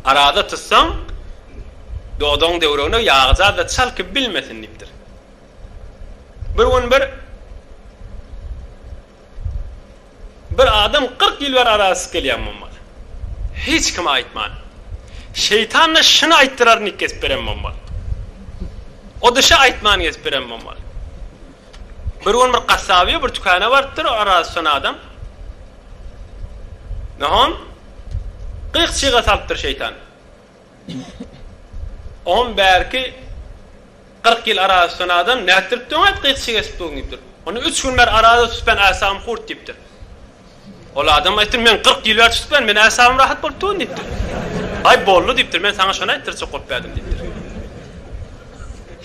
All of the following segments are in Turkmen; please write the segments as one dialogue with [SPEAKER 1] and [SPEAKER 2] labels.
[SPEAKER 1] Arada tutsaň, dodagyň döwregine ýagyjaz-da çalkyp bilmesin diýipdir. Bir gün bir Bir adam kyrk ýyl bäri arasyz gelýän bolmaly. Hiç kime aýtman. Şeýtan-da şuny aýtdyraryn diýip gezip beren bolmaly. O-da şa aýtman gezip beren bolmaly. Bir gün bir gassabyýa bir tükana barypdyr, oraz tutan adam. Nahon gyk çyga salypdyr şeýtan. Oňam bärki 40 ýyl oraz tutan adam nätdirip döňet gyk çyga esip dogýun diýipdir. Onda 3 gün ber araza tutýan äsagym hurt diýipdir. Ol adam aýtdy, Men kyrk ýyl bäri tutup geldim, meniň ähsabym rahat bolup dur diýipdir. Aý, boldy diýipdir, men saňa şony aýtdyrjak bolup geldim diýipdir.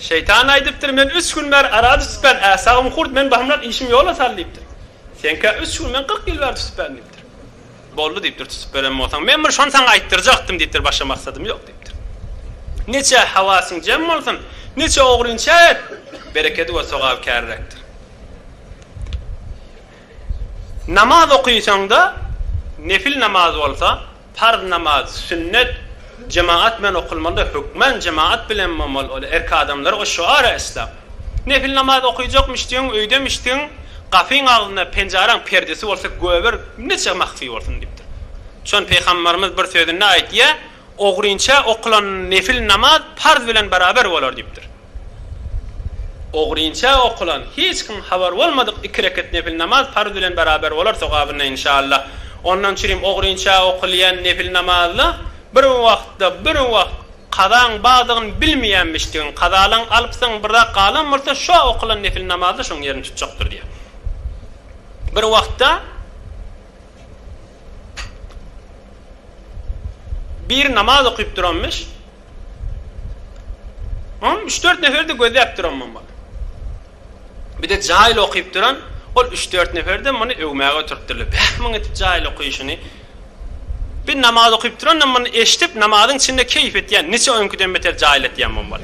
[SPEAKER 1] Şeýtan aýdypdyr, Men üç gün bäri arady tutup geldim, ähsabym hurt, meniň bahymrak işimi ýola sal diýipdir. Seňkä üç gün, men kyrk ýyl bäri tutup geldim diýipdir. Boldy diýipdir, tutup gelen bolsaň, men bir şony saňa aýtdyrjakdym diýipdir, başga maksadym ýok diýipdir. Niçe hawasyň jem bolsun, niçe ogrynçäk et, berekedi we sogaby käriräkdir. Namaz okaýsaň-da, nefil namaz bolsa, parz namaz, sünnet, jemagat bilen okalmalydy, hökmän jemagat bilen bolmaly, ol erk adamlar o şüara isläp. Nefil namaz okaýjakmyşdygyň, öýdemmişdigiň, gapyň agzynda penjaraň perdesi bolsa göbür neçe mahfi bolsun diýipdir. Şony Pygamberimiz bir sözünde aýtýar, Ogrynça okalan nefil namaz parz bilen beraber bolar diýipdir. Ogrynça okulan, hiç kim habar bolmadyk iki rekat nepil namaz parz bilen beraber bolar sogabynda inşallah. Ondan çürim ogrynça okulýan nepil namazda bir wagtda bir wagt kazaň bardygyny bilmeýänmişdigiň, kazalaň alypsyň bir zat galan bolsa şo okulan nepil namazda şoň ýerini tutjakdyr diýýär. Bir wagtda bir namaz okyp duranmyş. Ony üç-dört nefer-de gözläp duranmam bar. Bir-de jaýly okyp duran, ol üç-dört nefer-de muny öwmäge oturypdyrlar. Bäh, muň edip jaýly okyşyny! Bir namaz okyp duran-da muny eşidip, namazyň içinde keýp etýän, niçe öňküden beter jaýly etýänmem bar.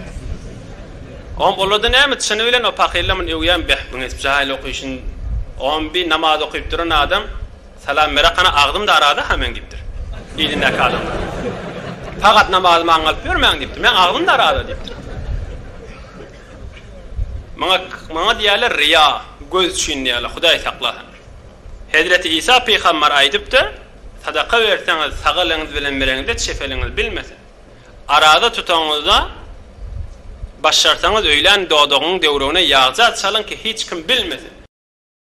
[SPEAKER 1] Oňam olarda näme, çyny bilen o pakyrlar muny öwýärmi, bäh, muň edip jaýly okyşyny! Oňam bir namaz okyp duran adam, Salam Merak hany agzym darada ha men diýipdir. Ilindäki adamlar. Pagat namazy maňa alyp bermäň diýipdir. Meň agzym darada diýipdir. Maňa maňa diýýärler riýa, göz üçin diýýärler, Hudaý saklasyn. Hezreti Isa pygambar aýdypdyr, sadaka berseňiz sag eliňiz bilen bereňizde çep eliňiz bilmesin. Araza tutaňyzda başarsaňyz öýlän dodagyňyň döwregine ýagja çalyň ki hiç kim bilmesin.